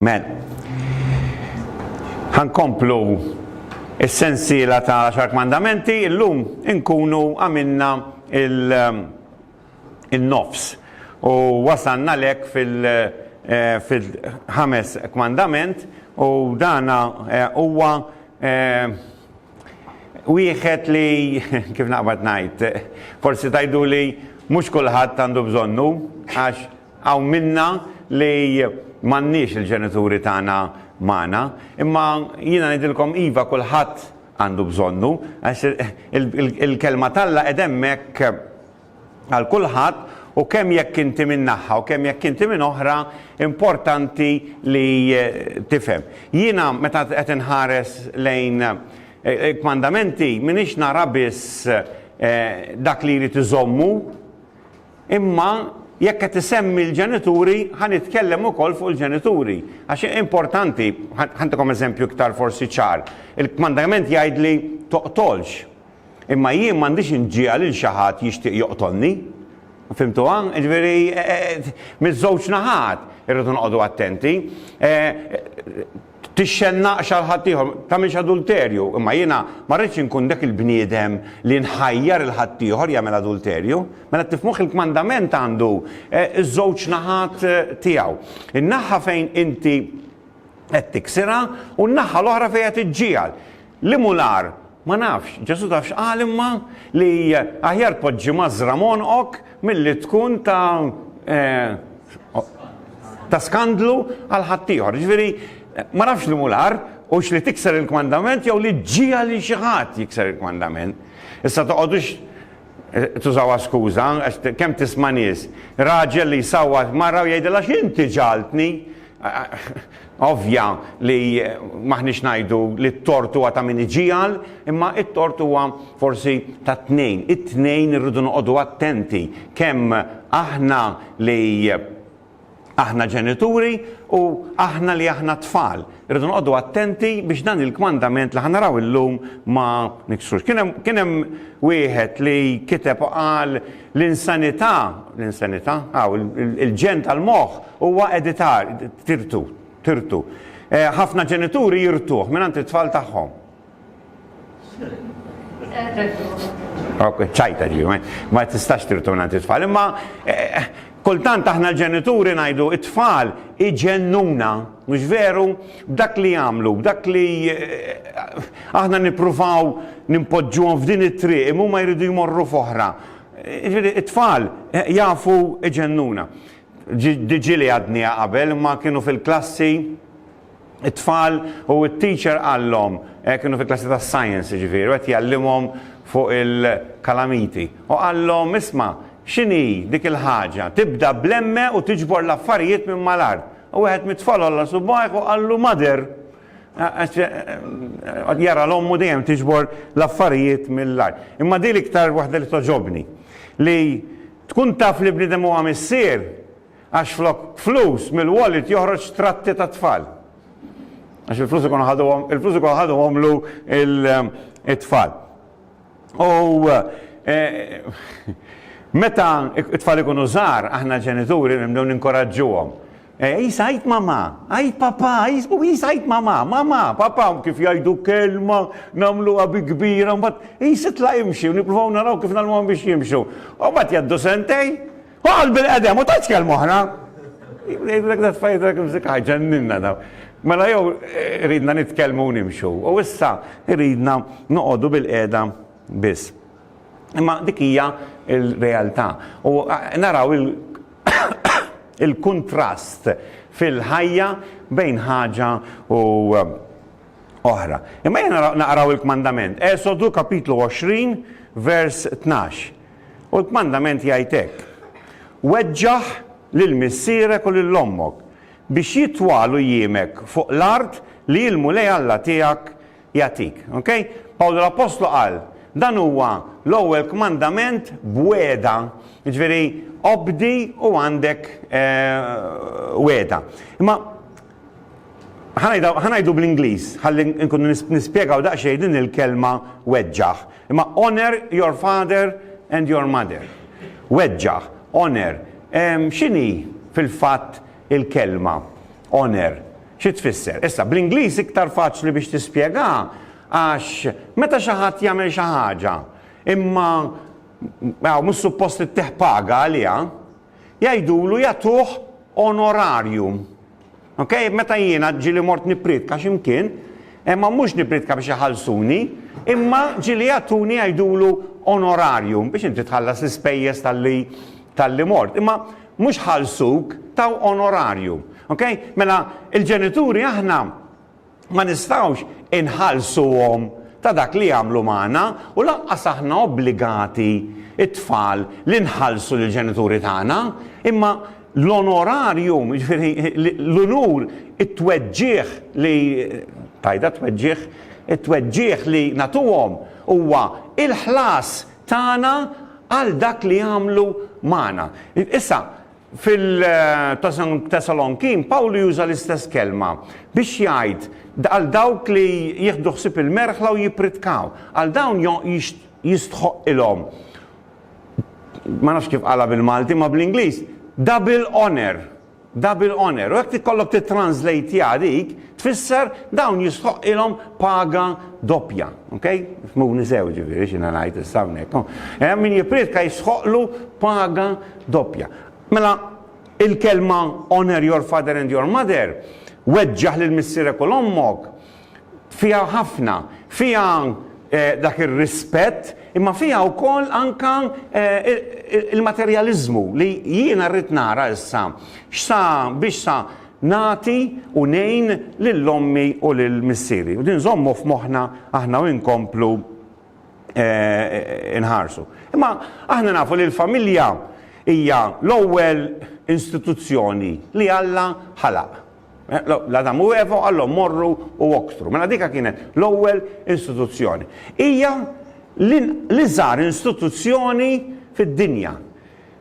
Mela, ħa nkomplu s-sensiela ta' l-Għaxar Kmandamenti, illum inkunu għamilna il-nofs u wasalna lek fil-ħames kmandament u dana huwa wieħed li, kif naqbad ngħid, forsi tgħiduli mhux kulħadd għandu bżonnu għax Hawn minna li m'għandniex il-ġenituri tagħna magħna, imma jiena ngħidilkom iva kulħadd għandu bżonnu, għax il-Kelma t'Alla qed hemmhekk għal kulħadd u kemm jekk inti minn naħa u kemm jekk inti minn oħra importanti li tifhem. Jiena meta qed inħares lejn il-kmandamenti m'iniex nara biss dak li jrid iżommu, Imma jekk qed isemmi l-ġenituri, ħa nitkellem ukoll fuq il-ġenituri. Għax importanti, ħantikom eżempju iktar forsi ċar. Il-kmandament jgħidli toqtolx. Imma jien m'għandix inġiegħel lil xi ħadd jixtieq joqtolni. Fimtuha? Ġifieri miż-żewġ naħat irridu noqogħdu attenti. Tixxennaqx għal ħaddieħor, tagħmilx adulterju. Imma jiena ma rridx inkun dak il-bniedem li nħajjar 'il ħaddieħor jagħmel adulterju. Mela tifhmuh il-kmandament għandu ż-żewġ naħat tiegħu. In-naħa fejn inti qed tiksirha u n-naħa l-oħra fejn qed iġġiegħel. Liemu l-agħar? Ma nafx. Ġesù taf x'qal imma? Li aħjar tpoġġi mażżra m'għonqok milli tkun ta' ta' skandlu għal ħaddieħor. Jiġifieri, ma nafx liemu l-agħar, hux li tikser il-kmandament jew li ġġiegħel lil xi ħadd jikser il-kmandament. Issa toqgħodux tużawha skuża, għax kemm tisma' nies, raġel li jsawwat mara u jgħidilha x'inti ġagħaltni? Ovvja li m'aħniex ngħidu li t-tort huwa ta' min iġiegħel, imma t-tort huwa forsi tat-tnejn. It-tnejn irridu noqogħdu attenti, kemm aħna li aħna ġenituri u aħna li aħna tfal. Irridu noqogħdu attenti biex dan il-kmandament li ħa naraw illum ma niksrux. Kien hemm kien hemm wieħed li kiteb u qal l-insanità, l-insanità, aw il-ġenn tal-moħħ Huwa editar, tirtu, tirtu. Ħafna ġenituri jirtuh mingħand it-tfal tagħhom. ċajta ġi, ma tistax tirtu mingħand it-tfal. Imma eh, kultant aħna l-ġenituri ngħidu it-tfal iġennuna, mhux veru, b'dak li jagħmlu, b'dak li eh, aħna nippruvaw nimpoġġuhom f'din it-triq, imma ma jridu jmorru f'oħra. Eh, it-tfal jafu iġennuna. Ġili għadniha qabel imma kienu fil-klassi it-tfal u t-teacher qallhom, eh, kienu fil-klassi ta' science jiġifieri, qed jgħallimhom fuq il-kalamiti. U qallhom, isma', x'inhi dik il-ħaġa, tibda bl-emme u tiġbor l-affarijiet minn mal-art. U wieħed mit-tfal għolla subgħajh u qallu mother. Jara l-ommu dejjem tiġbor l-affarijiet mill-art. Imma din l-iktar waħda li togħġobni li Tkun taf li bniedem huwa missier għax flok flus mill-wallet joħroġ tratti tat-tfal. Għax il-flus ikunu ħaduhom, il-flus ikunu ħaduhomlu it-tfal. U meta t-tfal ikunu żgħar, aħna ġenituri nibdew ninkoraġġuhom Eja, Isa, għid mamà, għid papà, Isa, għid mamà, mamà, papà, kif jgħidu kelma, nagħmluha bi kbira, mbagħad Isa tla' imxi u nippruvaw naraw kif nagħmluhom biex jimxu. U mbagħad jgħaddu sentej, u għal bil-qedem u tgħidx kelma oħra. Jgħidlek dat fajt dak imsik ħaġġenninna daw. Mela jew eh, ridna nitkellmu nimxu. U issa ridna noqogħdu bil-qeda biss. Imma dik hija l-realtà. U naraw il-kuntrast fil-ħajja bejn ħaġa u oħra. Imma jien naqraw il-kmandament. Esodu kapitlu 20 vers 12. U l-kmandament jgħid hekk. Weġġaħ lil missierek u lil ommok biex jitwalu jiemek fuq l-art li l-Mulej Alla tiegħek jagħtik. Ok? Pawlu l-Appostlu qal, dan huwa l-ewwel kmandament b'wegħda, jiġifieri obdi u għandek eh, wegħda. Imma ħanajdu bl-Ingliż, ħalli nkunu nispjegaw daqsxejn din il-kelma weġġaħ. Imma honor your father and your mother. Weġġaħ, honor. X'inhi fil-fatt il-kelma honour xi tfisser. Issa, bl-Ingliż iktar faċli biex tispjegaha għax meta xi ħadd jagħmel xi ħaġa imma għaw mhux suppost ittieħ paga għaliha, jgħidulu jagħtuh onorarium. Ok, meta jiena ġili mort nipritka x'imkien, imma mhux nipritka biex iħallsuni, imma ġili jagħtuni jgħidulu onorarium biex inti tħallas l-ispejjeż tal-li tal-li mort. Imma Mhux ħallsuk, taw onorarju. Ok? Mela, il-ġenituri aħna ma nistgħux inħallsuhom ta' dak li jagħmlu magħna u lanqas aħna obbligati t-tfal li nħallsu lill-ġenituri tagħna, imma l-onorarium, jiġifieri l-unur, it-tweġġigħ li tajda tweġġigħ, it-tweġġigħ li nagħtuhom huwa l-ħlas tagħna għal dak li għamlu magħna. Issa, fil-Tesalonkin, Pawlu juża l-istess kelma biex jgħid għal dawk li jieħdu ħsieb il-merħla u jippritkaw. Għal dawn jistħoqqilhom, ma nafx kif qalha bil-Malti, imma bl-Ingliż, double honour. Double honour, u jekk tikollok tittranslateha dik, tfisser dawn jistħoqqilhom paga doppja. Ok? Fhmuni sew jiġifieri x'jiena ngħid issa hawnhekk. Hemm min jipprietka jistħoqqlu paga doppja. Mela il-kelma honor your father and your mother, weġġaħ lil missierek u 'l ommok, fiha ħafna, fiha dak ir-rispett, imma fiha wkoll anke l-materjaliżmu li jiena rrid nara issa x'sa biex sa nagħti u ngħin lil ommi u lil missieri. U din nżommu f'moħħna aħna u nkomplu nħarsu. Imma aħna nafu li l-familja hija l-ewwel istituzzjoni li Alla ħalaq. L-Adamu u Eva qallhom morru u oktru. Mela dika kienet l-ewwel istituzzjoni. Hija l-iżgħar istituzzjoni fid-dinja.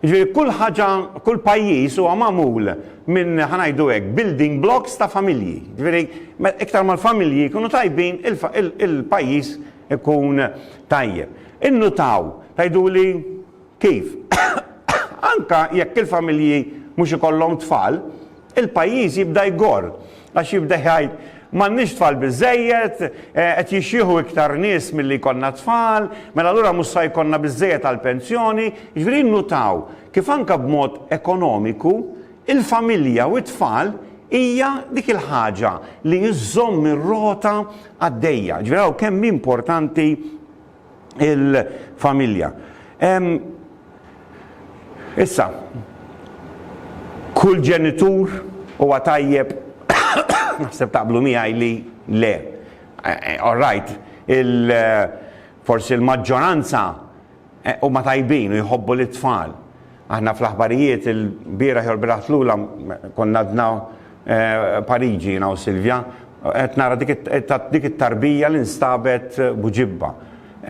Jiġifieri kull ħaġa, kull pajjiż huwa magħmul minn ħa ngħidu hekk building blocks ta' familji. Jiġifieri iktar ma l-familji jkunu tajbin il-pajjiż ikun tajjeb. Innutaw, tgħiduli? Kif? Anke jekk il-familji mhux ikollhom tfal, il-pajjiż jibda jgorr, għax jibda jgħid, M'għandniex tfal biżżejjed, qed jixjieħu iktar nies milli jkollna tfal, mela allura mhux sa jkollna biżżejjed għall-pensjoni. Jiġifieri nnutaw kif anke b'mod ekonomiku, il-familja u t-tfal hija dik il-ħaġa li żżomm ir-rota għaddejja. Jiġifieri araw kemm hi importanti. il-familja. Issa, kull ġenitur huwa tajjeb naħseb taqblu miegħi li le. All right, forsi l-maġġoranza huma tajbin u jħobbu lit-tfal. Aħna fl-aħbarijiet il-bieraħ jew l-bieraħ tlula konna għadna Pariġi jiena u Silvia, qed nara dik it-tarbija li nstabet b'ġibba.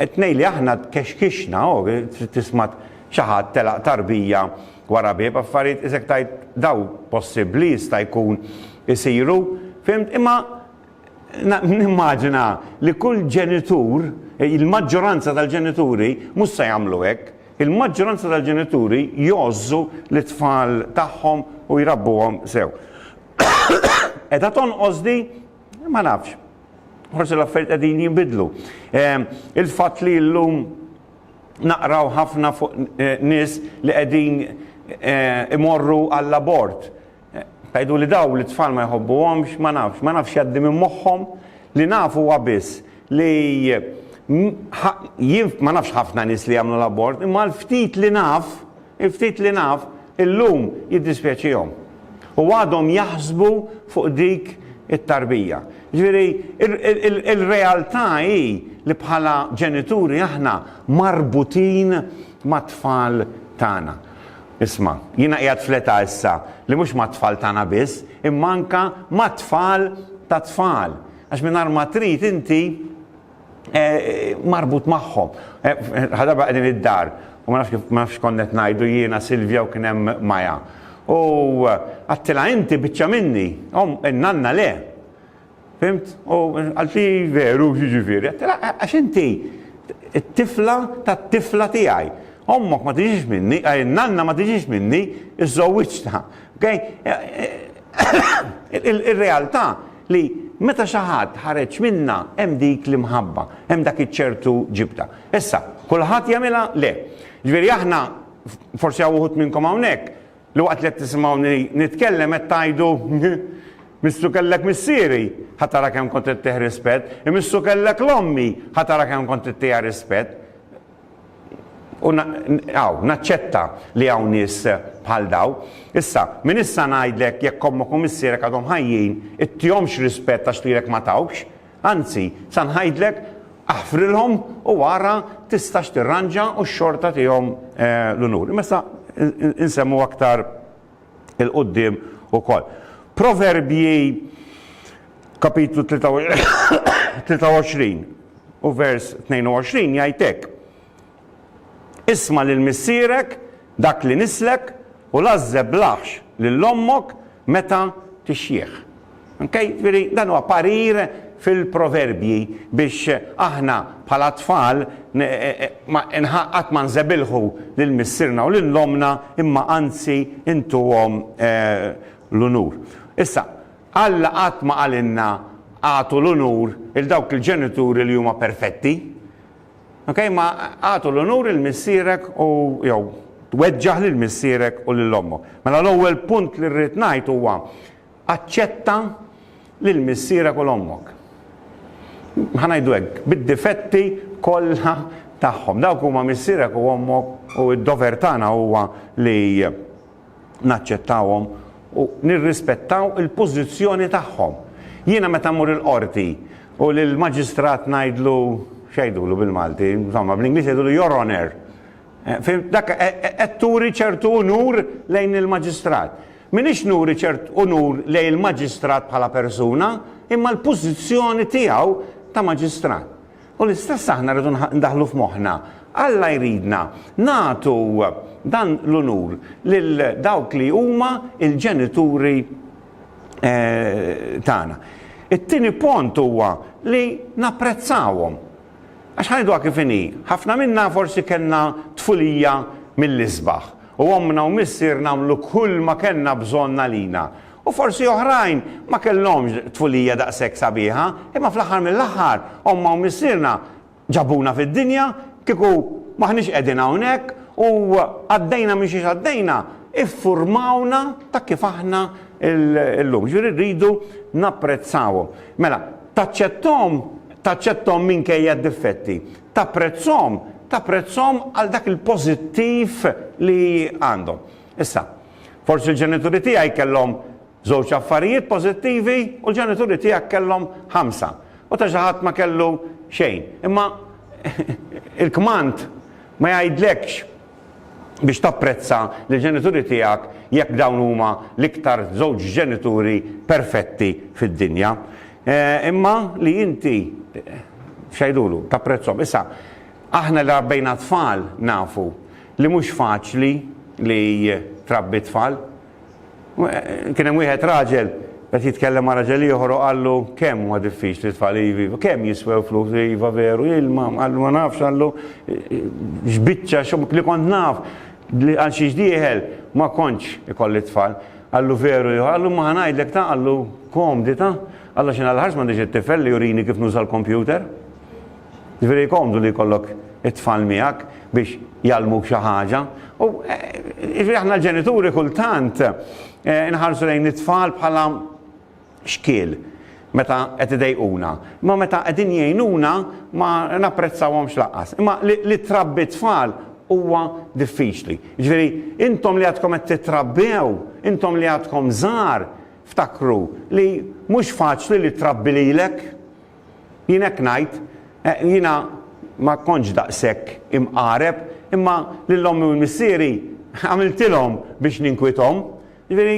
It-tnejn li aħna tkexkixna, trid tisma' xi ħadd telaq tarbija wara bieb, affarijiet isek tgħid daw possibbli jista' jkun isiru, fimt? Imma Nimmaġina li kull ġenitur, il-maġġoranza tal-ġenituri mhux se jagħmlu hekk. Il-maġġoranza tal-ġenituri jgħożżu lit-tfal tagħhom u jrabbuhom sew. Qiegħda tonqos di? Ma nafx. Forsi l-affarijiet qegħdin jinbidlu. Ehm, il-fatt li llum naqraw ħafna fuq eh, nies li qegħdin eh, imorru għall-abort. Tgħidu li dawn l-itfal ma jħobbuhomx, ma nafx, ma nafx x'jgħaddi minn moħħhom, li naf huwa biss li jien ma nafx ħafna nies li jagħmlu l-abort, imma l-ftit li naf, il-ftit li naf, illum jiddispjaċihom. U għadhom jaħsbu fuq dik it-tarbija. Jiġifieri il-realtà hi li bħala ġenituri aħna marbutin mat-tfal tagħna. Isma', jiena qiegħed fl-età issa li mhux mat-tfal tagħna biss, imma anke mat-tfal tat-tfal, għax mingħajr ma trid inti marbut magħhom. Ħa darba qegħdin id-dar, u ma nafx kif, ma nafx x'kont qed ngħidu jiena, Silvia u kien hemm Maja. U għedtilha inti biċċa minni, omm, nanna le. Fimt? U għal xi veru x'jiġifieri? Għattilha għax inti t-tifla tat-tifla tiegħi. Ommok ma tiġix minni, nanna ma tiġix minni, iżżowwiġtha. Okay? Ir-realtà li meta xi ħadd ħareġ minnha hemm dik l-imħabba, hemm dak iċ-ċertu ġibda. Issa, kulħadd jagħmilha? Le. Ġifieri aħna, forsi hawn uħud minnkom hawnhekk, Li waqt li qed tisimgħuni nitkellem qed tgħidu, Missu kellek missieri, ħa tara kemm kont ittih rispett, imissu kellek 'l ommi, ħa tara kemm kont ittiha rispett. U hawn, naċċetta li hawn nies bħal dawn. Issa, minn issa ngħidlek jekk ommok u missierek għadhom ħajjin, ittihomx rispett għax lilek ma tawkx, Anzi, sa ngħidlek, aħfrilhom u ara tistax tirranġa u x-xorta tihom l-unur. Imma issa insemmu aktar 'il quddiem ukoll. Proverbji kapitlu 23 u vers 22 jgħid hekk, Isma' lil missierek, dak li nislek, u l-għażżeb l-għaħx lil ommok meta tixjieħ. Okej? Jiġifieri dan huwa parir fil-Proverbji biex aħna bħala tfal qatt ma nżebilħu lil missierna u lil ommna imma anzi intuhom l-unur. Issa, Alla qatt ma qalilna agħtu l-unur 'il dawk il-ġenituri li huma perfetti. Ok, ma għatu l-onur il missierek u jew tweġġaħ lil missierek u lil ommok. Mela l-ewwel punt li rrid ngħid huwa aċċetta lil missierek u l ommok. Ħanajdu hekk, bid-difetti kollha tagħhom. Dawk huma missierek u ommok u d-dover tagħna huwa li naċċettawhom u nirrispettaw il-pożizzjoni tagħhom. Jiena meta mmur il-qorti u lill-maġistrat ngħidlu x'għidulu bil-Malti, insomma bl-Ingliż jgħidulu your honor. Eh, Fim dak eh, eh, qed turi ċertu unur lejn il-maġistrat. Minix nuri ċert unur lejn il-maġistrat bħala persuna, imma l-pożizzjoni tiegħu ta' maġistrat. U l-istess aħna rridu ndaħħlu f'moħħna. Alla jridna nagħtu dan l-unur lil dawk li huma l-ġenituri tagħna. It-tieni pont huwa li napprezzawhom. Għax ħanidwa kif inhi, ħafna minna forsi kellna tfulija mill-isbaħ u ommna u missierna għamlu kull ma kellna bżonn għalina. U forsi oħrajn ma kellhomx tfulija daqshekk sabiħa, imma fl-aħħar mill-aħħar ommha u missierna ġabuna fid-dinja, kieku m'aħniex qegħdin hawnhekk u għaddejna minn xiex għaddejna, iffurmawna ta' kif aħna llum. Jiġifieri rridu napprezzawhom. Mela, taċċetthom, taċċetthom minkejja d-difetti. Tapprezzhom, tapprezzhom għal dak il-pożittiv li għandhom. Issa, forsi l-ġenituri tiegħi kellhom żewġ affarijiet pożittivi u l-ġenituri tiegħek kellhom ħamsa, u ta' xi ħadd ma kellu xejn. Imma il-kmand ma jgħidlekx biex tapprezza lill-ġenituri tiegħek jekk dawn huma l-iktar żewġ ġenituri perfetti fid-dinja, imma li inti, x'għidulu, tapprezzhom. Issa, aħna li rabbejna t-tfal nafu Li mhux faċli li trabbi t-tfal. Kien hemm wieħed raġel qed jitkellem ma' raġel ieħor u qallu kemm huwa diffiċli t-tfal iva iva, kemm jiswew flus iva veru, ilma, qallu ma nafx qallu x'biċċa xogħol li kont naf li għal xiex dieħel ma kontx ikolli t-tfal. Qallu veru iva, qallu imma ħa ngħidlek ta' qallu komdita, qallu għax jiena l-ħarsma m'għandix it-tifel li jurini kif nuża l-kompjuter. Jiġifieri komdu li jkollok it-tfal miegħek biex jgħallmuk xi ħaġa. U jiġifieri aħna l-ġenituri kultant inħarsu lejn it-tfal bħala xkiel meta qed idejquna. Imma meta qegħdin jgħinuna ma napprezzawhomx lanqas. Imma li trabbi tfal huwa diffiċli. Jiġifieri intom li għadkom qed titrabbew, intom li għadkom żgħar, ftakru li mhux faċli li trabbi lilek. Jien hekk ngħid, jiena ma kontx daqshekk imqareb, imma lil ommi u missieri għamiltilhom biex ninkwithom. Jiġifieri,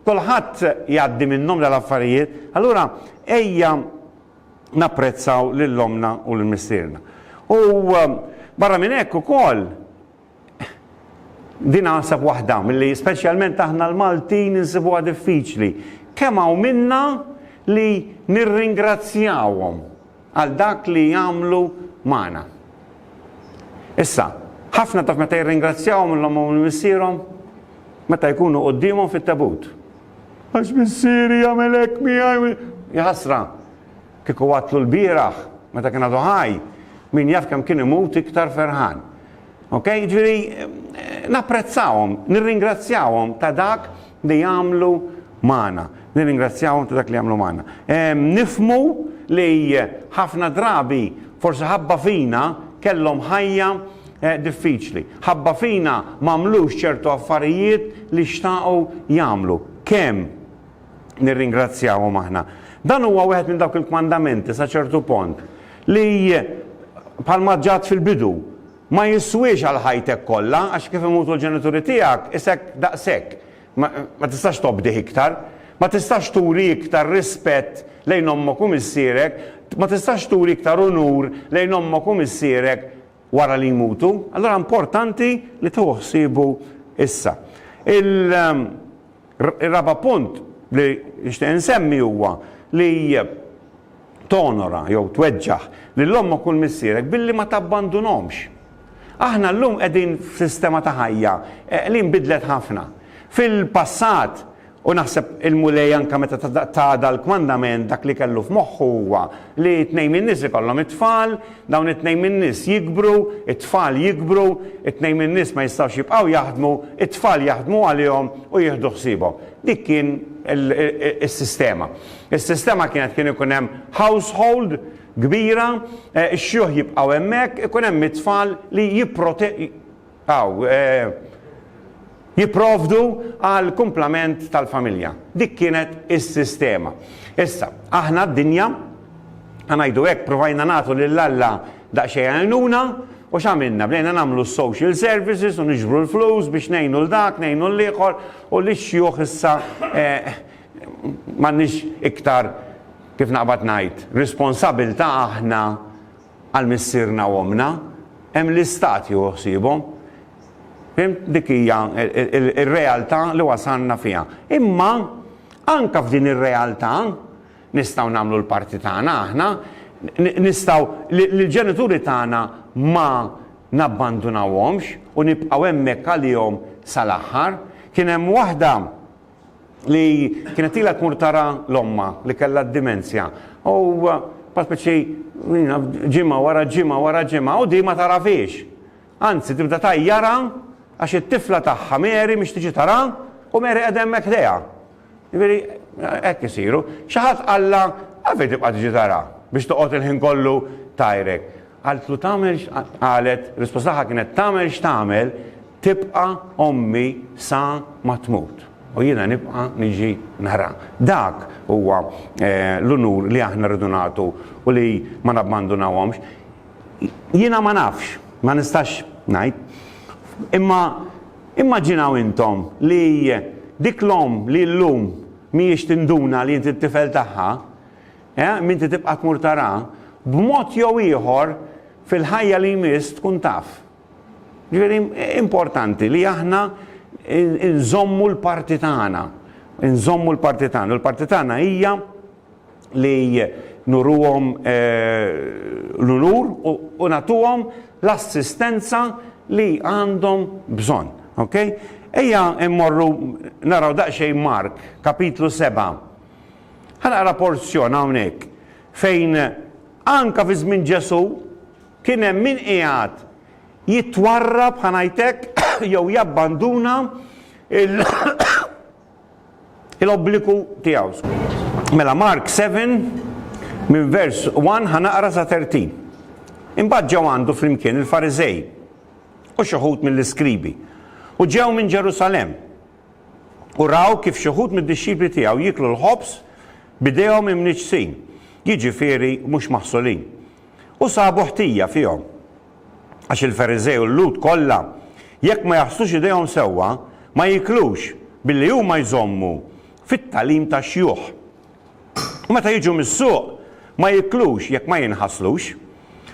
kulħadd jgħaddi minnhom dal-affarijiet, allura ejja napprezzaw lil ommna u lil missierna. U barra minn hekk ukoll, Din naħseb waħda milli speċjalment aħna l-Maltin insibuha diffiċli. Kemm hawn minna li nirringrazzjawhom għal dak li jagħmlu magħna. Issa, ħafna taf meta jirringrazzjawhom l-omm u missierhom meta jkunu quddiemhom fit-tabut. Għax missieri jagħmel hekk miegħi jħassra. Kieku qatlu lbieraħ meta kien għadu ħaj, min jaf kemm kien imut iktar ferħan. Ok, ġifieri napprezzawhom, nirringrazzjawhom ta' dak li jagħmlu magħna. Nirringrazzjawhom ta' dak li jagħmlu magħna. Nifhmu li ħafna drabi forsi ħabba fina kellhom ħajja diffiċli. Ħabba fina m'għamlux ċertu affarijiet li xtaqu jagħmlu. Kemm? nirringrazzjahom aħna. Dan huwa wieħed minn dawk il-kmandamenti sa ċertu pont li bħalma ġat fil-bidu ma jiswiex għal ħajtek kollha għax kif imutu l-ġenituri tiegħek isek daqshekk. Ma tistax tobdih iktar. Ma tistax turi iktar rispett lejn ommok u missierek, ma tistax turi iktar unur lejn ommok u missierek wara li jmutu, allura importanti li tieħu ħsiebu issa. Ir-raba' punt li nixtieq insemmi huwa li tonora jew tweġġaħ lil ommok u 'l missierek billi ma tabbandunhomx. Aħna llum qegħdin f'sistema ta' ħajja li nbidlet ħafna. Fil-passat U naħseb il-Mulej anke meta ta dal kmandament dak li kellu f'moħħu huwa li tnejn min-nies ikollhom it-tfal, dawn it-tnejn min-nies jikbru, it-tfal jikbru, it-tnejn min-nies ma jistgħux jibqgħu jaħdmu, it-tfal jaħdmu għalihom u jieħdu ħsiebhom. Dik kien is-sistema. Is-sistema kienet kien ikun hemm household kbira, ix-xjuħ jibqgħu hemmhekk, ikun hemm it-tfal li jipprote Aw, jipprovdu għall-kumplament tal-familja. Dik kienet is-sistema. Issa, aħna d-dinja, ħa ngħidu hekk, provajna nagħtu lil Alla daqsxejn għajnuna, u x'għamilna? Bdejna nagħmlu s-social services u niġbru l-flus biex ngħinu 'l dak, ngħinu 'l ieħor, u lix-xjuħ issa m'għandniex iktar, kif naqbad ngħid, responsabilità aħna, Għal missierna u ommna, hemm l-Istat jieħu ħsiebhom. Fimt? Dik hija r-realtà li wasalna fiha. Imma anke f'din ir-realtà nistgħu nagħmlu l-parti tagħna aħna, nistgħu lill-ġenituri tagħna ma nabbandunawhomx u nibqgħu hemmhekk għalihom sal-aħħar. Kien hemm waħda, li kienet ilha tmur tara l-ommha li kellha d-dimensja u bħal spiċċi ġimgħa wara ġimgħa wara ġimgħa u di ma tarafhiex. Anzi tibda tgħajjarha għax it-tifla tagħha Mary mhix tiġi tarha u Mary qiegħda hemmhekk ħdejha. Jiġifieri hekk isiru. Xi ħadd qallha għalfejn tibqa' tiġi tarha biex toqgħod il-ħin kollu tgħajrek. Qaltlu tagħmel qalet risposta tagħha kienet tagħmel x'tagħmel tibqa' ommi sa ma tmut u jiena nibqa' niġi nara. Dak huwa l-unur li aħna rridu nagħtu u li ma nabbandunawhomx. Jiena ma nafx, ma nistax ngħid, imma immaġinaw intom li dik l-omm li llum mhijiex tinduna li int it-tifel tagħha, Eh, minti tibqa' tmur tara, b'mod jew ieħor fil-ħajja li jmiss tkun taf. Ġifieri importanti li aħna nżommu l-parti tagħna. Nżommu l-parti tagħna. L-parti tagħna hija li nuruhom eh, l-unur u natuhom l-assistenza li għandhom bżonn. Okay? Ejja immorru naraw daqsxejn Mark, kapitlu 7. Ħa naqra porzjon hawnhekk fejn anke fi żmien Ġesù kien hemm min qiegħed jitwarrab, ħa ngħid hekk, jew jabbanduna l-obbligu tiegħu. Mela Mark 7 minn vers 1 ħa naqra sa 13. Imbagħad ġew għandu flimkien il-Fariżej u xi ħut mill-iskribi u ġew minn Ġerusalemm u raw kif xi wħud mid-dixxipli tiegħu jieklu l-ħobż b'idejhom imniġġsin, jiġifieri mhux maħsulin, u sabu ħtija fihom. Għax il-Fariżej u l-Lhud kollha, jekk ma jaħslux idejhom sewwa, ma jieklux, billi huma jżommu fit-tagħlim tax-xjuħ. u meta jiġu mis-suq ma jiklux jekk ma jinħaslux.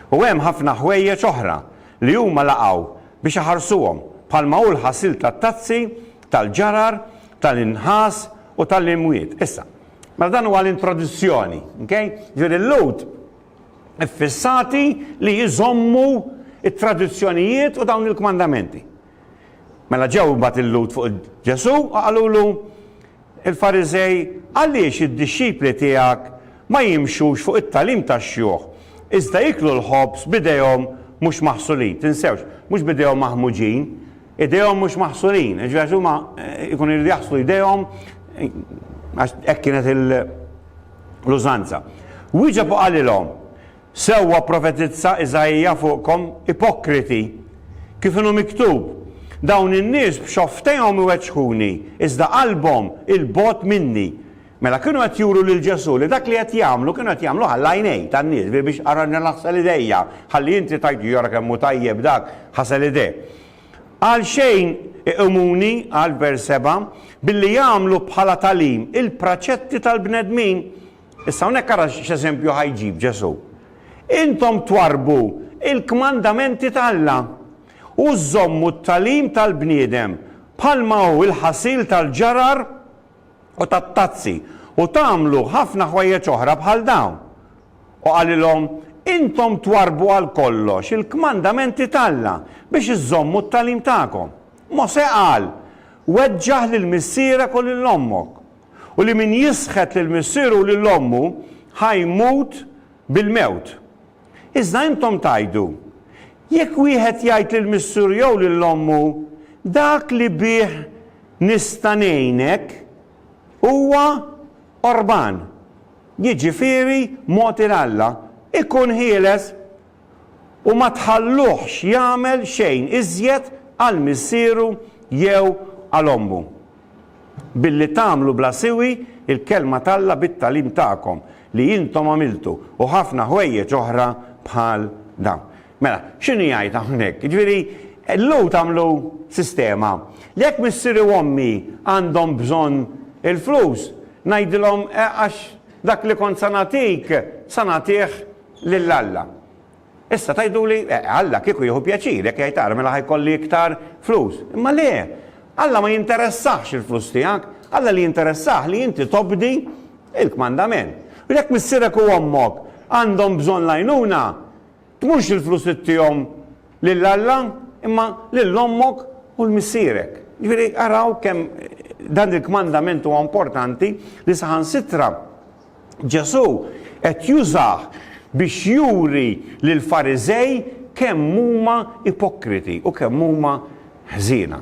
U hemm ħafna ħwejjeġ oħra li huma laqgħu biex iħarsuhom bħalma hu l-ħasil tat-tazzi, tal-ġarar, tal-inħas u tal-imwiet. Issa, mela dan huwa l-introduzzjoni, ok? Jiġifieri l-Lhud iffissati li jżommu t-tradizzjonijiet u dawn il-kmandamenti. Mela ġew imbagħad il-Lhud fuq Ġesù u qalulu, Il-Fariżej, għaliex id-dixxipli tiegħek ma jimxux fuq it-tagħlim tax-xjuħ, iżda jieklu l-ħobż b'idejhom mhux maħsulin? Tinsewx, mhux b'idejhom maħmuġin, idejhom mhux maħsulin. Jiġifieri għax huma jkunu jridu jaħslu jdejhom għax hekk kienet l-użanza. Wieġeb u qalilhom, Sewwa pprofetizza Isaija fuqkom, ipokriti! Kif inhu miktub, Dawn in-nies b'xofftejhom iweġġħuni, iżda qalbhom 'il bogħod minni. Mela kienu qed juru lil Ġesù li dak li qed jagħmlu kienu qed jagħmluh għall-għajnejn tan-nies bi biex arranġa naħsel idejja, ħalli inti tgħid jara kemm hu tajjeb dak, ħasel idejh. Għalxejn iqimuni, qal f'vers 7, billi jagħmlu bħala tagħlim il-praċetti tal-bnedmin, Issa hawnhekk ara x'eżempju ħa jġib Ġesù, Intom twarrbu l-kmandamenti ta' Alla, u żżommu t-tagħlim tal-bniedem, bħalma hu l-ħasil tal-ġarar u tat-tazzi, u tagħmlu ħafna ħwejjeġ oħra bħal dawn. U qalilhom, Intom twarrbu għal kollox il-kmandamenti ta' Alla biex iżżommu t-tagħlim tagħkom. Mosè qal, Weġġaħ lil missierek u lil ommok, u li min jisħet lil missieru u lil ommu ħa jmut bil-mewt. Iżda intom tgħidu, Jekk wieħed jgħid lil missieru jew lil ommu, 'Dak li bih nista' ngħinek, huwa qorban, jiġifieri mogħti 'l Alla, ikun ħieles, u ma tħalluhx jagħmel xejn iżjed għal missieru jew għal ommu. Billi tagħmlu bla siwi l-kelma t'Alla bit-tagħlim tagħkom li intom għamiltu, u ħafna ħwejjeġ oħra bħal dawn. Mela, x'inhu jgħid hawnhekk? Jiġifieri, il-Lhud għamlu sistema li jekk missieri u ommi għandhom bżonn il-flus, ngħidilhom, eh, għax dak li kont se nagħtik, se nagħtih lil Alla. Issa tgħiduli, eh, Alla kieku jieħu pjaċir jekk jgħid ara mela ħa jkolli iktar flus. Imma le! Alla ma jinteressahx il-flus tiegħek, Alla li jinteressah li inti tobdi il-kmandament. U jekk missierek u ommok għandhom bżonn l-għajnuna, tmurx il-flus ittihom lil Alla, imma lil ommok u l-missierek. Ġifieri araw kemm dan il-kmandament huwa importanti li saħansitra Ġesù qed jużah biex juri lill-Fariżej kemm huma ipokriti u kemm huma ħżiena.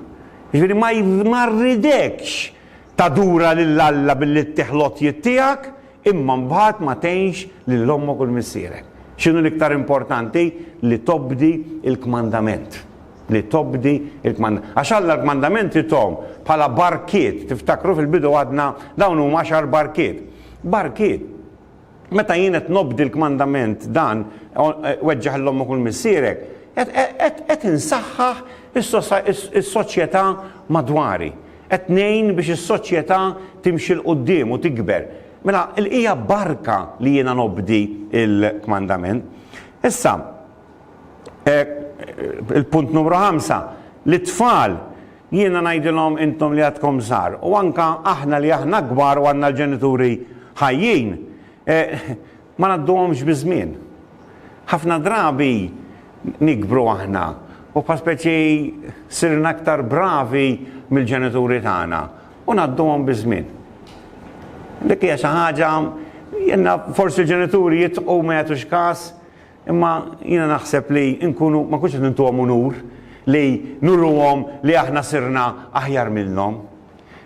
Jiġifieri ma ma rridekx tadura lil Alla billi ttih l-għotjiet tiegħek imma mbagħad ma tgħinx lil ommok u l-missierek. X'inhu l-iktar importanti? Li tobdi l-kmandament. li tobdi l-kmandamenti. Għax Alla l-kmandamenti thom bħala barkiet, tiftakru fil-bidu għadna dawn huma għaxar barkiet. Barkiet. Meta jien qed nobdi l-kmandament dan, weġġaħ 'l ommok u 'l missierek, qed insaħħaħ is-soċjetà madwari. Qed ngħin biex is-soċjetà timxi 'l quddiem u tikber. Mela, hija barka li jiena nobdi l-kmandament. Issa, Hekk, il-punt numru ħamsa, lit-tfal, jiena ngħidilhom intom li għadkom żgħar, u anke aħna li aħna kbar u għandna l-ġenituri ħajjin, ma ngħadduhomx biż-żmien. Ħafna drabi nikbru aħna u bħal speċi sirna aktar bravi mill-ġenituri tagħna u ngħadduhom biż-żmien. Dik hija xi ħaġa, jiena forsi l-ġenituri jitqu ma jagħtux każ, Imma jiena naħseb li nkunu, ma nkunx qed nintuhom unur li nuruhom li aħna sirna aħjar minnhom,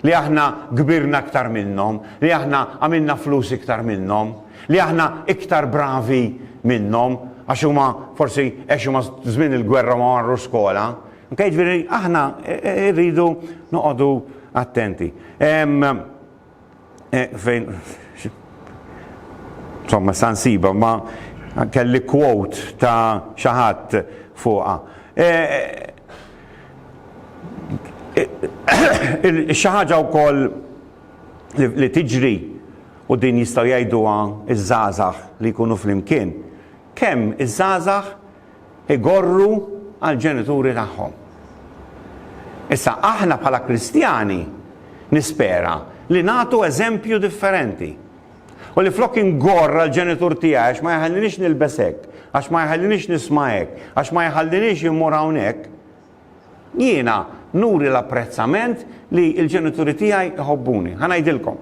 li aħna kbirna iktar minnhom, li aħna għamilna flus iktar minnhom, li aħna iktar bravi minnhom għax huma forsi għex huma żmien il-gwerra ma marrux skola. Ok, jiġifieri aħna rridu noqogħdu attenti. Fejn insomma sa nsiba ma kelli quote ta' xi ħadd fuqha. Xi ħaġa wkoll li tiġri u din jistgħu jgħiduha ż-żgħażagħ li jkunu flimkien, kemm iż-żgħażagħ igorru għall-ġenituri tagħhom. Issa, aħna bħala Kristjani nispera li nagħtu eżempju differenti. U li flok ingorr għall-ġenitur tiegħi għax ma jħallinix nilbes hekk, għax ma jħallinix nisma' hekk, għax ma jħallinix immur hawnhekk, Jiena nuri l-apprezzament li l-ġenituri tiegħi jħobbuni. Ħa ngħidilkom.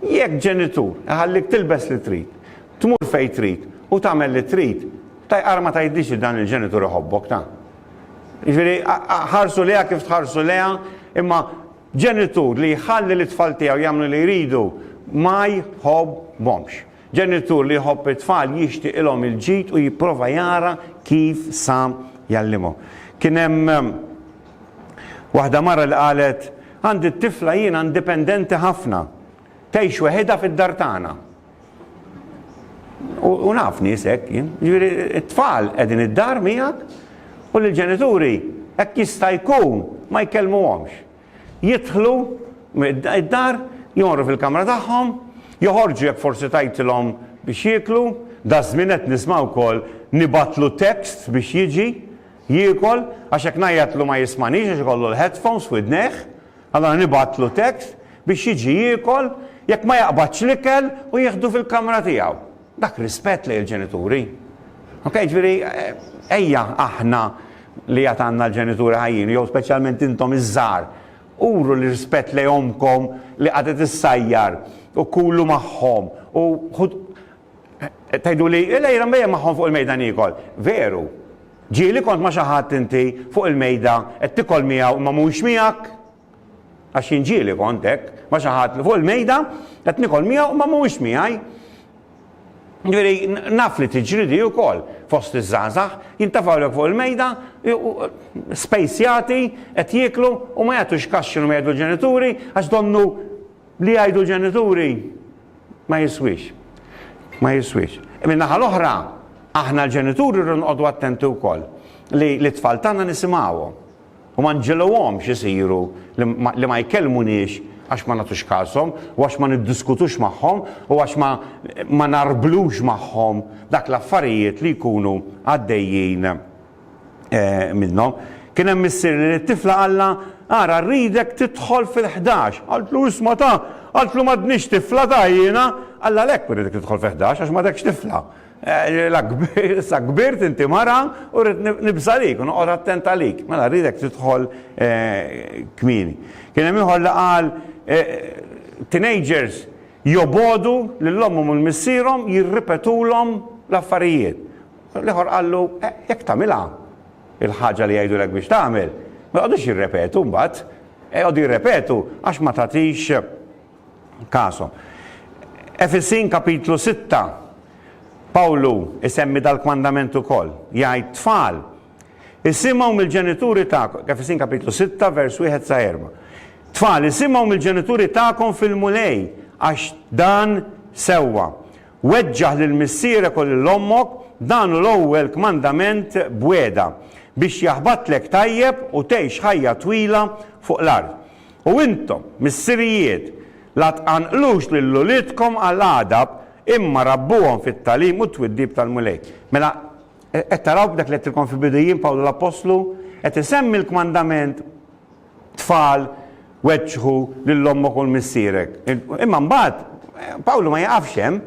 Jekk ġenitur iħallik tilbes li trid, tmur fejn trid u tagħmel li trid, taj ara ma tgħidlix li dan il-ġenitur iħobbok, ta. Jiġifieri ħarsu lejha kif tħarsu lejha, imma ġenitur li jħalli lit-tfal tiegħu jagħmlu li jridu ma jħobbhomx. Ġenitur li jħobb it-tfal jixtiqilhom il-ġid u jipprova jara kif sa jgħallimhom. Kien hemm waħda mara li qalet, Għandi t-tifla jiena indipendenti ħafna. Tgħix weħidha fid-dar tagħna. U naf nies hekk jien. Jiġifieri t-tfal qegħdin id-dar miegħek u l-ġenituri hekk jista' jkun ma jkellmuhomx. Jidħlu d-dar, jonqru fil-kamra tagħhom, joħorġu jekk forsi tajtilhom biex jieklu, daż-żmien qed nisma' wkoll nibgħatlu text biex jiġi jiekol għax jekk ngħajjatlu ma jismagħnix għax ikollu l-headphones f'widnejh, allura nibgħatlu text biex jiġi jiekol, jekk ma jaqbadx l-ikel u jieħdu fil-kamra tiegħu. Dak rispett lejn il-ġenituri. Ok, ġifieri ejja aħna li għad għandna l-ġenituri ħajjin, jew speċjalment intom iż-żgħar, uru l-rispett lejn ommkom li qagħdet issajjar u kulu magħhom u ħud tgħiduli lejla mbejjem magħhom fuq il-mejda niekol. Veru, ġieli kont ma' xi ħadd inti fuq il-mejda qed tikol miegħu imma mhuwiex miegħek. Għax jien ġieli kont hekk, ma xi ħadd li fuq il-mejda qed nikol miegħu ma mhuwiex miegħi. Ġifieri naf li tiġri di wkoll fost iż-żgħażagħ, jintafgħulek fuq il-mejda, spejsjati, qed jieklu u ma jagħtux każ x'inhu ma jgħidu l-ġenituri għax donnu li jgħidu l-ġenituri ma jiswiex. Ma jiswiex. Min-naħa l-oħra, aħna l-ġenituri rridu nqogħdu attenti wkoll li t-tfal tagħna nisimgħuhom. U ma nġegħluhomx isiru li ma jkellmuniex għax ma nagħtux kashom u għax ma niddiskutux magħhom u għax ma ngħarblux magħhom dak l-affarijiet li jkunu għaddejjin minnhom. Kien hemm missier li lit-tifla qallha, Ara rridek tidħol fil-ħdax. Qaltlu, Isma' ta', qaltlu m'għadnix tifla ta' jiena. Qallha, Għalhekk irridek tidħol fil-ħdax għax m'għadekx tifla. La kbirt, sa kbirt inti mara u rrid nibża' għalik u noqgħod attent għalik. Mela rridek tidħol kmieni. Kien hemm ieħor li qal teenagers jobogħdu lil ommhom u l-missierhom jirripetulhom l-affarijiet. L-ieħor qallu jekk tagħmilha l-ħaġa li jgħidulek biex tagħmel, ma joqgħodux jirrepetu mbagħad. Joqogħdu jirrepetu għax ma tagħtix Kasom. Efesin kapitlu sitta, Pawlu isemmi dal-kmandament ukoll. Jgħid, Tfal, isimgħu mill-ġenituri tagħkom, Efesin kapitlu sitta vers wieħed sa erba'. Tfal, isimgħu mill-ġenituri tagħkom fil-Mulej, għax dan sewwa. Weġġaħ lil missierek u lil ommok, dan hu l-ewwel kmandament b'wegħda, biex jaħbatlek tajjeb u tgħix ħajja twila fuq l-art. U intom, missirijiet, la tqanqlux lil uliedkom għal għadab, imma rabbuhom fit-tagħlim u t-twiddib tal-Mulej. Mela, qed taraw b'dak li għedtilkom fil-bidu jien, Pawlu l-appostlu, qed isemmi l-kmandament, Tfal, weġġħu lil ommok u lmissierek. Imma mbagħad, Pawlu ma jiqafx hemm.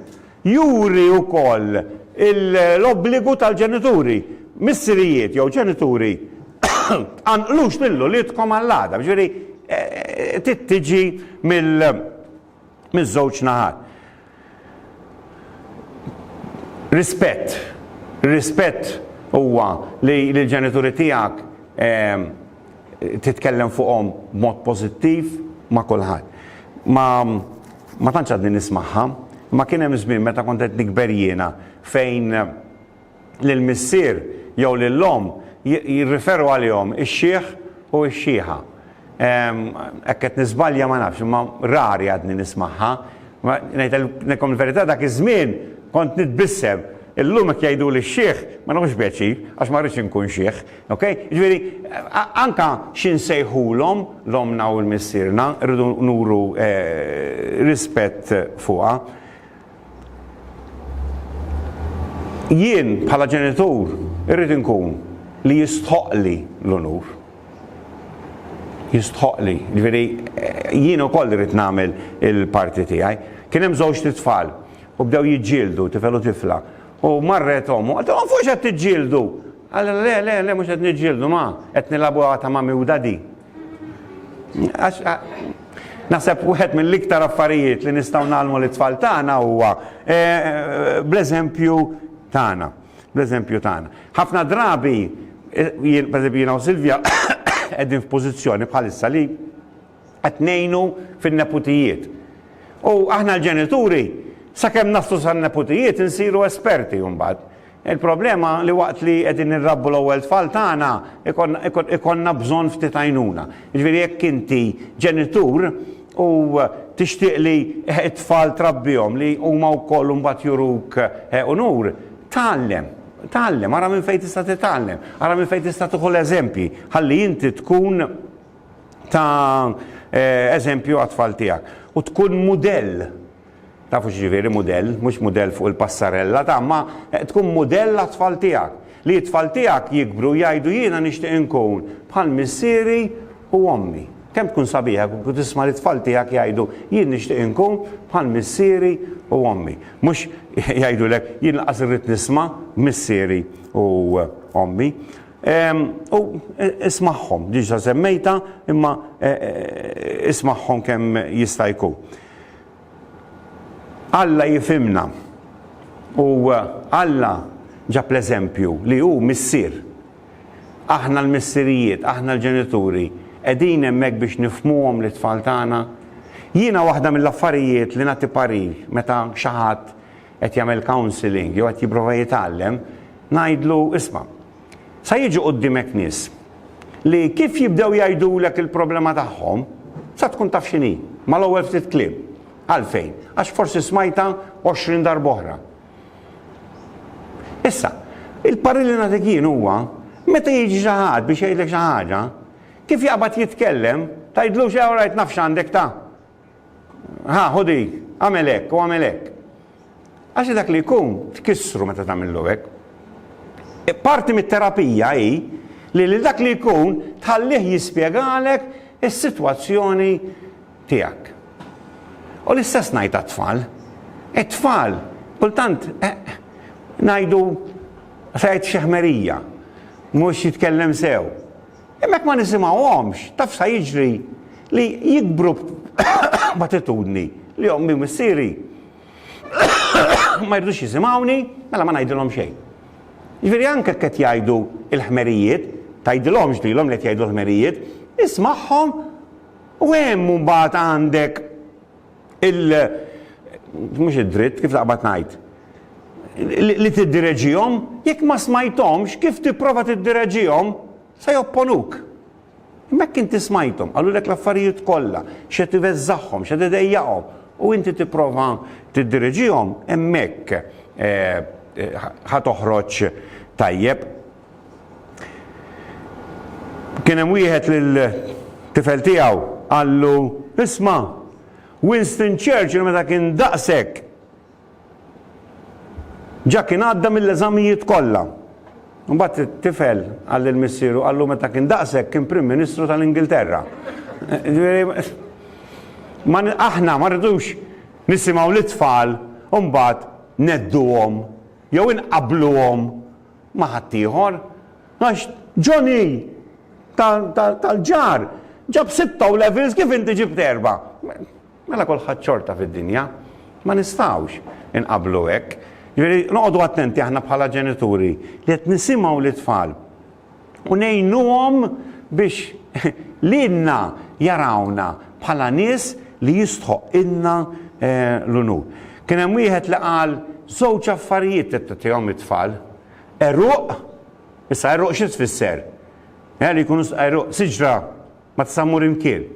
Juri wkoll l-obbligu tal-ġenituri, missirijiet jew ġenituri, tqanqlux lil uliedkom għall-għada, jiġifieri trid tiġi mill-żewġ naħat. Rispett, ir-rispett huwa li l-ġenituri tiegħek titkellem fuqhom b'mod pożittiv ma' kulħadd. Ma tantx għadni nismagħha, imma kien hemm żmien meta kont qed nikber jiena fejn lil missier jew lil omm jirriferu għalihom ix-xiħ u x-xiħa. Hekk qed niżbalja ma nafx, imma rari għadni nismagħha. Ma ngħidilkom il-verità dak iż-żmien kont nitbissem. Illum jekk jgħiduli x-xiħ ma nieħux pjaċir għax ma rridx inkun xiħ. Ok? Ġifieri, anka xi nsejħulhom l-ommna u l-missierna, rridu nuru rispett fuqha. Jien bħala ġenitur irrid inkun li jistħoqqli l-unur. Jistħoqqli. Ġifieri, jien ukoll irrid nagħmel il-parti tiegħi. Kien hemm żewġt itfal u bdew jiġġieldu, tifel u tifla. U marret omm u qaltilhom, Fuq x'qed tiġġieldu? Allura le, le, le, mhux qed niġġieldu ma, qed nilagħbu għata magħmjuda di. Għax naħseb wieħed mill-iktar affarijiet li nistgħu nagħlmu lit-tfal tagħna huwa eh, eh, bl-eżempju tagħna. Bl-eżempju tagħna. Ħafna drabi, eh, jien pereżempju jiena u Silvja qegħdin f'pożizzjoni bħalissa li qed ngħinu fin-neputijiet. U aħna l-ġenituri, sakemm naslu san-neputijiet insiru esperti mbagħad. Il-problema li waqt li qegħdin nirrabbu l-ewwel tfal tagħna ikollna bżonn ftit għajnuna. Jiġifieri jekk inti ġenitur u tixtieq li t-tfal trabbihom li huma wkoll imbagħad juruk unur, tgħallem, tgħallem, ara minn fejn tista' titgħallem, ara minn fejn tista' tieħu l-eżempji ħalli inti tkun ta' eżempju għat-tfal tiegħek u tkun mudell. Tafu x'ġifieri mudell, mhux mudell fuq il-passarella ta' ma tkun mudell għat-tfal tiegħek. Li t-tfal tiegħek jikbru u jgħidu jiena nixtieq inkun bħal missieri u ommi. Kemm tkun sabiħa kieku tisma' lit-tfal tiegħek jgħidu jien nixtieq inkun bħal missieri u ommi. Mhux jgħidulek jien lanqas irrid nisma' missieri u ommi. U ismagħhom, diġa semmejta, imma ismagħhom kemm jista' jkun. Alla jifhimna u Alla ġab l-eżempju li hu missier. Aħna l-missirijiet, aħna l-ġenituri, qegħdin hemmhekk biex nifhmuhom lit-tfal tagħna? Jiena waħda mill-affarijiet li nagħti parir meta xi ħadd qed jagħmel counselling jew qed jipprova jitgħallem, ngħidlu, isma', sa jiġu quddiemek nies li kif jibdew jgħidulek il-problema tagħhom, sa tkun taf x'inhi, mal-ewwel ftit kliem. Għalfejn? Għax forsi smajta 20 darba oħra. Issa, il-parri li nagħtik jien huwa meta jiġi xi ħadd biex jgħidlek xi ħaġa, kif jaqbad jitkellem, tgħidlux jew rajt nafx għandek ta' Ħa, ħu dik, għamel hekk u għamel hekk. Għax dak li jkun tkissru meta tagħmillu hekk. E, parti mit-terapija hi li li dak li jkun tħallih jispjegalek is-sitwazzjoni tiegħek. U l-istess ngħid għat-tfal. It-tfal, kultant, e, ngħidu fejt xeħmerija, mhux jitkellem sew. Imma jekk ma nisimgħuhomx, taf sa jiġri? Li jikbru b'attitudni li ommi u missieri ma jridux jisimgħuni, mela ma ngħidilhom xejn. Jiġifieri anke jekk qed jgħidu l-ħmerijiet, tgħidilhomx lilhom li qed jgħidu l-ħmerijiet, ismagħhom u hemm mbagħad għandek il mhux id-dritt, kif naqbad ngħid, li tiddireġihom, jekk ma smajthomx, kif tipprova tiddireġihom, se jopponuk. Imma jekk inti smajthom, qalulek l-affarijiet kollha, x'qed iveżżagħhom, x'qed idejjaqhom, u inti tipprova tiddireġihom, hemmhekk ħa toħroġ tajjeb. Kien hemm wieħed lil tifel tiegħu qallu, Isma', Winston Churchill meta kien daqshekk ġa kien għadda mill-eżamijiet kollha. Mbagħad it-tifel qal lil missieru qallu meta kien daqshekk kien Prim Ministru tal-Ingilterra. Ma aħna ma rridux nisimgħu lit-tfal u mbagħad nedduhom jew inqabbluhom ma' ħaddieħor, għax Johnny tal-ġar ġab sitta O' Levels kif inti ġibt erba'. Mela kulħadd xorta fid-dinja. Ma nistgħux inqabblu hekk. Jiġifieri noqogħdu attenti aħna bħala ġenituri li qed nisimgħu lit-tfal u ngħinuhom biex lilna jarawna bħala nies li jistħoqqilna l-unur. Kien hemm wieħed li qal żewġ affarijiet li tagħtihom it-tfal, għeruq, issa għeruq xi tfisser? Li jkunu għeruq siġra Ma tista' mmur imkien.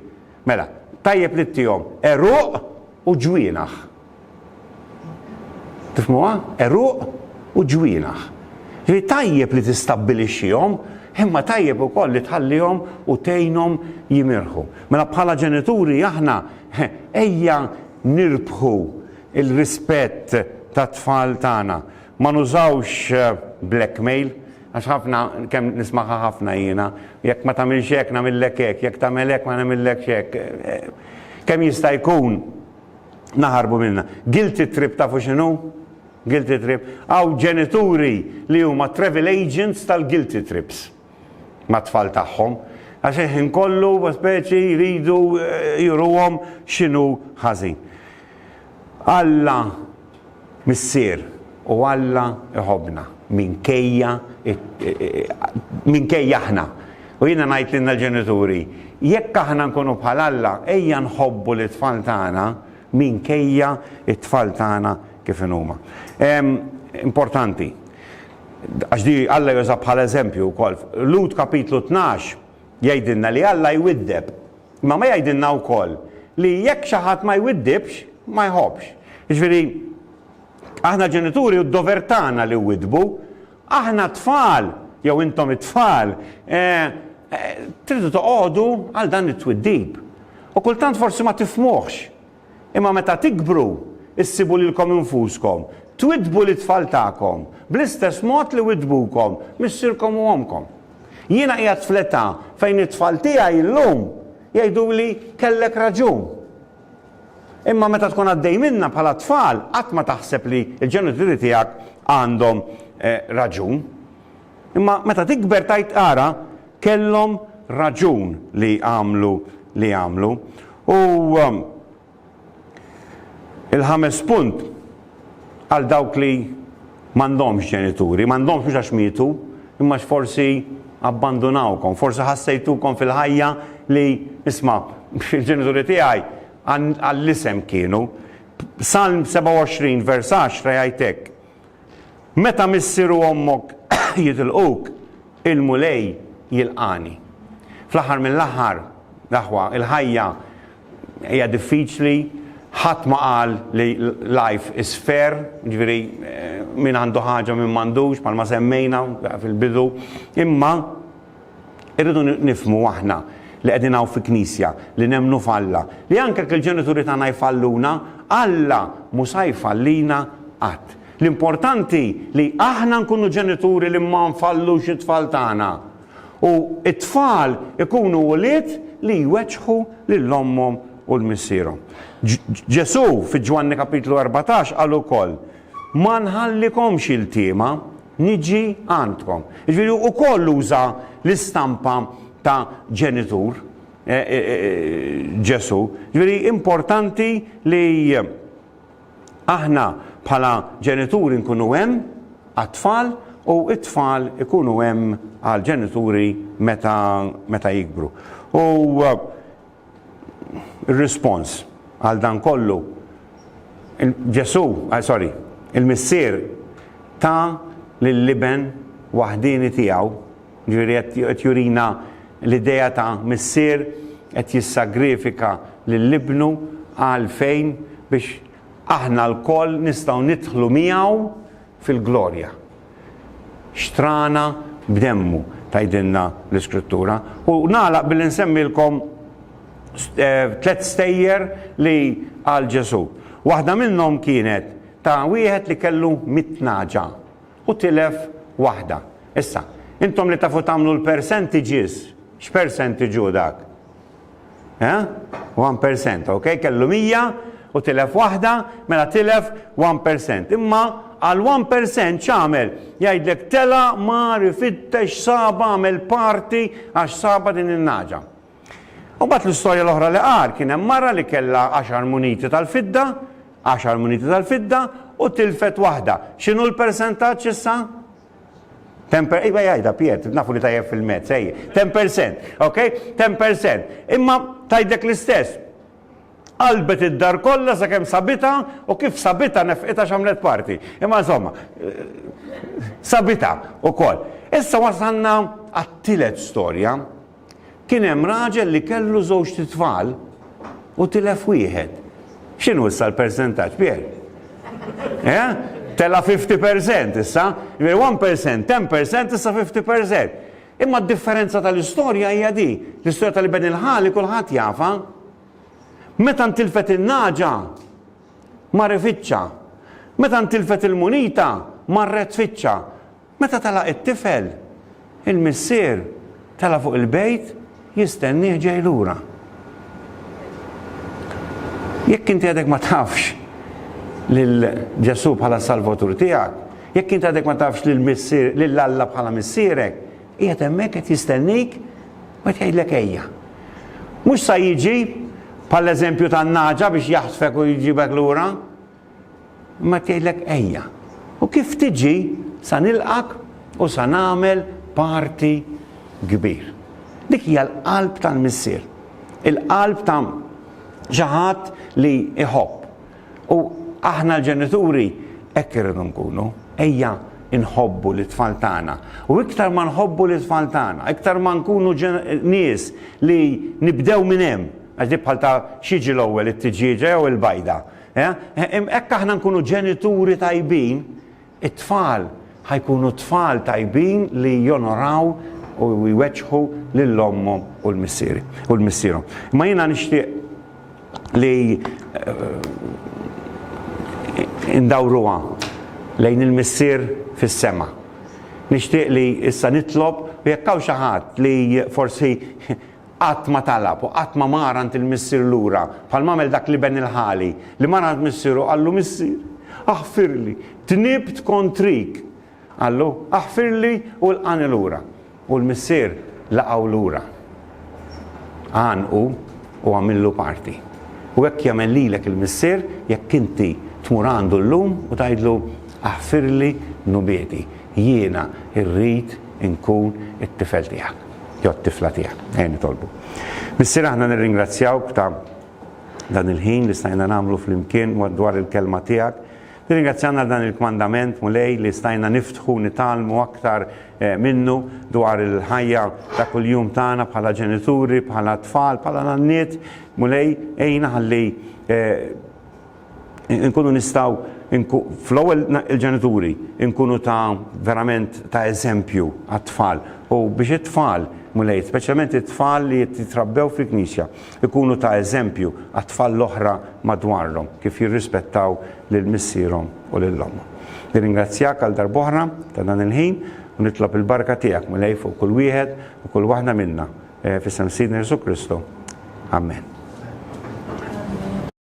Mela, tajjeb li ttihom għeruq u ġwienaħ. Tifhmuha? Għeruq u ġwienaħ. Ġifieri tajjeb li tistabbilixxihom, imma tajjeb ukoll li tħallihom u tgħinhom jimirħu. Mela bħala ġenituri aħna ejja nirbħu l-rispett tat-tfal tagħna. Ma nużawx blackmail, għax ħafna, kemm nismagħha ħafna jiena, jekk ma tagħmilx hekk nagħmillek hekk, jekk tagħmel hekk ma nagħmillekx hekk. Kemm jista' jkun naħarbu minnha. Guilty trip tafu x'inhu? Guilty trip. Hawn ġenituri li huma travel agents tal-guilty trips mat-tfal tagħhom, għax il-ħin kollu speċi jridu juruhom x'inhu ħażin. Alla Missier, u Alla jħobbna minkejja minkejja aħna. U jiena ngħid lilna l-ġenituri, jekk aħna nkunu bħal Alla, ejja nħobbu lit-tfal tagħna minkejja t-tfal tagħna kif inhuma. Importanti, għax di Alla juża bħala eżempju wkoll. Lhud kapitlu tnax jgħidilna li Alla jwiddeb. Imma ma jgħidilna wkoll li jekk xi ħadd ma jwiddibx, ma jħobbx. Jiġifieri, aħna ġenituri u d-dover tagħna li wwiddbu. Aħna t-tfal, jew intom it-tfal, tridu toqgħodu għal dan it-twiddib. U kultant forsi ma tifhmuhx. Imma meta tikbru, issibu lilkom infuskom twiddbu lit-tfal tagħkom bl-istess mod li widdbukom missierkom u ommkom. Jiena qiegħed fl-età fejn it-tfal tiegħi llum jgħiduli kellek raġun. Imma meta tkun għaddej minnha bħala tfal qatt ma taħseb li l-ġenituri tiegħek għandhom raġun. Imma meta tikber tgħid ara kellhom raġun li għamlu li għamlu. U il-ħames punt għal dawk li m'għandhomx ġenituri, m'għandhomx mhux għax mietu, imma għax forsi abbandunawkom, forsi ħassejtukom fil-ħajja li isma' il-ġenituri tiegħi għall-isem kienu. Salm 27 vers 10 jgħid hekk, Meta missier u ommok jitilquk, il-Mulej jilqagħni. Fl-aħħar mill-aħħar, l-aħwa, il-ħajja hija diffiċli, ħadd ma qal li life is fair, jiġifieri min għandu ħaġa u min m'għandux bħalma semmejna fil-bidu, imma, Irridu nifhmu aħna li qegħdin hawn fi Knisja, li nemmnu f'Alla, li anke jekk il-ġenituri tagħna jfalluna, Alla mhu sa jfallina qatt. L-importanti li aħna nkunu ġenituri li ma nfallux it-tfal tagħna u t-tfal ikunu ulied li jweġġħu lil ommhom u l-missierhom. Ġesù fi Ġwanni kapitlu erbatax qal ukoll, Ma nħallikomx iltiema. niġi għandkom. Jiġifieri hu wkoll uża l-istampa ta' ġenitur Ġesù. Jiġifieri importanti li aħna bħala ġenituri nkunu hemm għat-tfal u t-tfal ikunu hemm għall-ġenituri meta jikbru. U Ir-rispons għal dan kollu, Ġesù, eh, sorry, il-Missier ta lill-Iben waħdieni tiegħu, ġifieri qed jurina l-idea ta' Missier qed jissagrifika lil Ibnu għal fejn biex aħna lkoll nistgħu nidħlu miegħu fil-glorja. xtrana b'demmu, tgħidilna l-Iskrittura. U nagħlaq billi nsemmilkom eh, tliet stejjer li għal Ġesu. Waħda minnhom kienet ta' wieħed li kellu mitnaġa u tilef waħda. Issa, intom li tafu tagħmlu l-percentages, x'percentaġu dak? Eh? 1%, ok? Kellu 100 u tilef waħda, mela tilef 1%. Imma għal 1% x'għamel? Jgħidlek tela mar ifittex saba għamel parti għax saba din in-naġa. U bat l-istorja l-oħra li qar kien hemm mara li kellha 10 muniti tal-fidda, 10 muniti tal-fidda u tilfet waħda. X'inhu l-persentaġġ issa? Temper, iva jajda, Piet, nafu li tajjeb fil-mezz, ej, 10%, ok? 10%. Imma tajdek l-istess. Qalbet id-dar kollha sakemm sabita u kif sabita nefqita x'għamlet parti. Imma insomma, eh, sabita ukoll. Issa wasanna għat-tielet storja. Kien hemm raġel li kellu żewġt itfal u tilef wieħed. X'inhu issa l-persentaġġ, Pier? Eh? Tela' 50% issa, jiġifieri 1%, 10% issa 50%. Imma d-differenza tal-istorja hija di, l-istorja tal-iben il-ħali kulħadd jafha. Meta ntilfet in-nagħġa, mar ifittxa. Meta ntilfet il-munita, marret tfittxa. Meta telaq it-tifel, il-missier tela' fuq il-bejt jistennieh ġej lura. Jekk inti għadek ma tafx lil Ġesù bħala s-Salvatur tiegħek, jekk inti għadek ma tafx lil Alla bħala Missierek, qiegħed hemmhekk qed jistennik u qed jgħidlek ejja. Mhux sa jiġi bħall-eżempju tan-nagħġa biex jaħtfek u jġibek lura, Imbagħad jgħidlek ejja. U kif tiġi sa nilqgħek u sa nagħmel party kbir. Dik hija l-qalb tal-Missier. Il-qalb ta' xi ħadd li jħobb. U aħna l-ġenituri hekk irridu nkunu. Ejja nħobbu lit-tfal tagħna. U iktar ma nħobbu lit-tfal tagħna, iktar ma nkunu nies li nibdew minn hemm, għax dik bħal ta' x'jiġi l-ewwel it-tiġieġa jew il-bajda. Hekk aħna nkunu ġenituri tajbin, it-tfal ħajkunu tfal tajbin li jonoraw u jweġħu lil ommhom u l-missieri u l-missierhom. Ma jiena nixtieq li eh, indawruha lejn il-missier fis-sema. Nixtieq li issa nitlob u jekk hawn xi ħadd li forsi Qatt ma talab u qatt ma mar għand il-missier lura, bħalma għamel dak l-iben il-ħali, li mar għand missieru u qallu, Missier, aħfirli, dnibt kontrik! Qallu, Aħfirli u lqagħni lura. U l-missier laqgħu lura. Għannqu u għamillu party. U hekk jagħmel lilek il-Missier jekk inti tmur għandu llum u tgħidlu, Aħfirli dnubieti, jiena rrid inkun it-tifel tiegħek. jew t-tifla tiegħek. Ejja nitolbu. Missier aħna nirringrazzjawk ta' dan il-ħin li stajna nagħmlu flimkien dwar il-kelma tiegħek. Nirringrazzjana għal dan il-kmandament mulej li stajna niftħu nitalmu aktar eh, minnu dwar il-ħajja ta' kuljum tagħna bħala ġenituri, bħala tfal, bħala nanniet, mulej ejna ħalli eh, inkunu nistgħu nku, fl-ewwel il-ġenituri nkunu ta' verament ta' eżempju għat-tfal u biex it-tfal, Mulej, speċjalment it-tfal li qed jitrabbew fil-Knisja, ikunu ta' eżempju għat-tfal l-oħra madwarhom kif jirrispettaw lil missierhom u lil ommhom. Nirringrazzjak għal darb'oħra ta' dan il-ħin u nitlob il-barka tiegħek, Mulej, fuq kull wieħed u kull waħda minna, f'isem Sidna Ġesù Kristu. Amen.